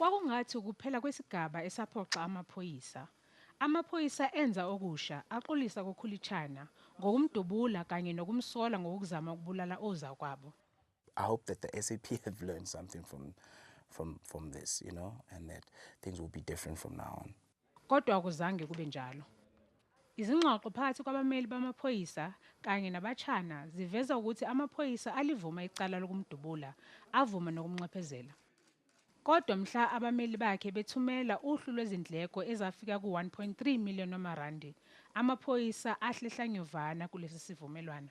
Kwakungathi ukuphela kwesigaba esaphoxa amaphoyisa. Amaphoyisa enza okusha, axolisa kuKhulitshana ngokumdubula kanye nokumsola ngokuzama ukubulala ozakwabo. I hope that the SAP have learned something from, from, from this, you know, and that things will be different from now on. Kodwa akuzange kube njalo. Izingxoxo phakathi kwabameli bamaphoyisa kanye naBatshana ziveza ukuthi amaphoyisa alivuma icala lokumdubula, avuma nokumnxephezela. Kodwa mhla abameli bakhe bethumela uhlu lwezindleko ezafika ku-1.3 million wamarandi, amaphoyisa ahle hlanyovana kulesi sivumelwano.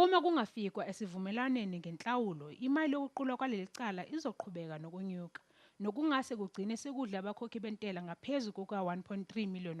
Uma kungafikwa esivumelwaneni ngenhlawulo, imali yokuqulwa kwaleli cala izoqhubeka nokunyuka, nokungase kugcine sekudle abakhokhi bentela ngaphezu kuka-R1.3 million.